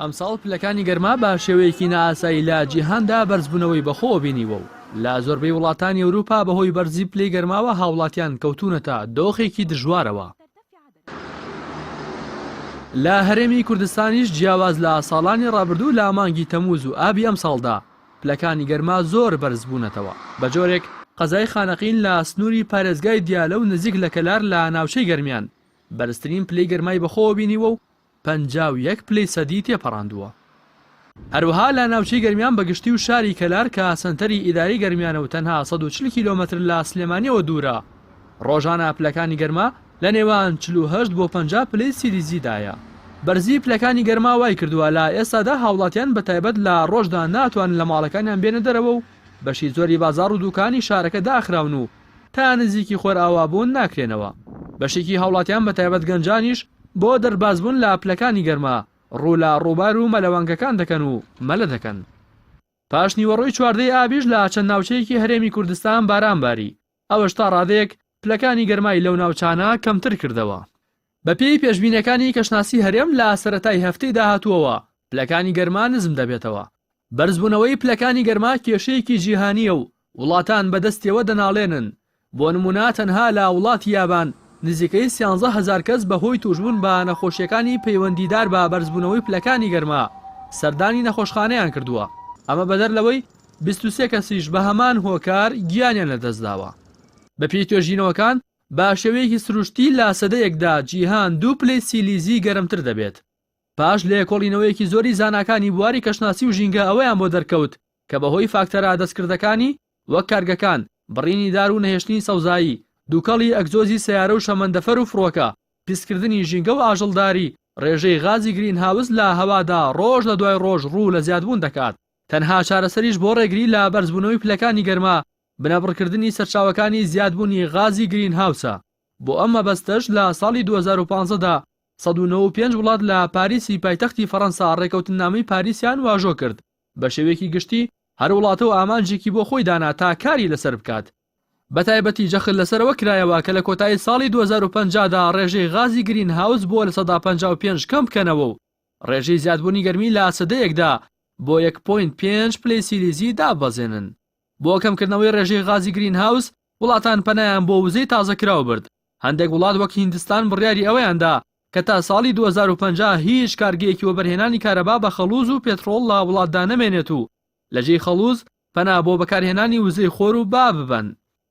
ئەمساڵ پلەکانی گەرما بە شێوەیەکی نائاسایی لە جیهاندا بەرزبوونەوەی بەخۆوە بینیوە و لە زۆربەی وڵاتانی ئەوروپا بەهۆی بەرزی پلەی گەرماوە هاوڵاتیان کەوتوونەتە دۆخێکی دژوارەوە. لە هەرێمی کوردستانیش جیاواز لە ساڵانی ڕابردوو لە مانگی تەمووز و ئابی ئەمساڵدا پلەکانی گەرما زۆر بەرزبوونەتەوە بەجۆرێک، قەزای خانەقین لە سنووری پارێزگای دیالە و نزیک لە کەلار لە ناوچەی گەرمیان بەرزترین پلەی گەرمای بەخۆوە بینیوە و پەنجا و یەک پلەی سەدی تێپەڕاندووە. هەروەها لە ناوچەی گەرمیان بەگشتی و شاری کەلار کە سەنتەری ئیداری گەرمیانە و تەنها سەد و چل کیلۆمەتر لە سلێمانییەوە دوورە، ڕۆژانە پلەکانی گەرما لە نێوان چل و هەشت بۆ پەنجا پلەی سیلیزیدایە. بەرزی پلەکانی گەرما وایکردووە لە ئێستادا هاوڵاتیان بە تایبەت لە ڕۆژدا ناتوانن لە ماڵەکانیان بێنە دەرەوە و بەشی زۆری بازاڕ و دووکانی شارەکە داخراون و تا نزیکی خۆرئاوا بوون ناکرێنەوە. بەشێکی هاوڵاتیان بە تایبەت گەنجانیش بۆ دەرباز بوون لە پلەکانی گەرما ڕوو لە ڕووبار و مەلەوانگەکان دەکەن و مەلە دەکەن. پاشنیوەڕۆی چواردە ی ئابیش لە چەند ناوچەیەکی هەرێمی کوردستان باران باری، ئەوەش تا ڕادەیەک پلەکانی گەرمای لەو ناوچانە کەمتر کردەوە. بەپێی پێشبینیەکانی کەشناسی هەرێم لە سەرەتای هەفتەی داهاتووەوە پلەکانی گەرما نزم دەبێتەوە، بەرزبوونەوەی پلەکانی گەرما کێشەیەکی جیهانییە و وڵاتان بەدەستیەوە دەناڵێنن، بۆ نموونە تەنها لە وڵاتی یابان نزیکەی سیانزە هەزار کەس بەهۆی تووشبوون بە نەخۆشییەکانی پەیوەندیدار بە بەرزبوونەوەی پلەکانی گەرما سەردانی نەخۆشخانەیان کردووە، ئەمە بەدەر لەوەی بیست و سێ کەسیش بەهەمان هۆکار گیانیان لەدەستداوە. بەپێی توێژینەوەکان باشێوەیەکی سروشتی لا سەدەیەکدا جیهان دوو پلەی سیلیزی گەرمتر دەبێت. پاش لێکۆڵینەوەیەکی زۆری زاناکانی بواری کەشناسی و ژینگە ئەوەیان بۆ دەرکەوت کە بەهۆی فاکتەرە دەستکردەکانی وەک کارگەکان، بڕینی دار و نەهێشتنی سەوزایی، دوکەڵی ئەگزۆزی سەیارە و شەمەندەفەر و فڕۆکە، پیسکردنی ژینگە و ئاژەڵداری، ڕێژەی غازی گرین هاوس لە هەوادا ڕۆژ لە دوای ڕۆژ ڕوو لە زیادبوون دەکات. تەنها چارەسەریش بۆ ڕێگری لە بەرزبوونەوەی پلەکانی گەرما بنەبڕکردنی سەرچاوەکانی زیادبوونی غازی گرینهاوسە، بۆ ئەم مەبەستەش لە ساڵی دوو هەزار و پازدە دا سەد و نەوە و پێنج وڵات لە پاریسی پایتەختی فەرەنسا ڕێکەوتننامەی پاریسیان واژۆ کرد، بە شێوەیەکی گشتی هەر وڵاتە و ئامانجێکی بۆ خۆی دانا تا کاری لەسەر بکات. بە تایبەتی جەخت لەسەر ئەوە کرایەوە کە لە کۆتایی ساڵی دوو هەزار و پەنجا دا ڕێژەی غازی گرینهاوس بۆ لە سەدا پەنجا و پێنج کەم بکەنەوە و ڕێژەی زیادبوونی گەرمی لە سەدەیەکدا بۆ یەک پۆینت پێنج پلەی سیلیزی داببەزێنن. بۆ کەمکردنەوەی ڕێژەی غازی گرین هاوس، وڵاتان پەنایان بۆ وزەی تازەکراو برد، هەندێک وڵات وەک هیندستان بڕیاری ئەوەیان دا کە تا ساڵی دوو هەزار و پەنجا هیچ کارگەیەکی وەبەرهێنانی کارەبا بە خەڵوز و پێتڕۆڵ لە وڵاتدا نەمێنێت و لەجێی خەڵوز پەنا بۆ بەکارهێنانی وزەی خۆر و با ببەن.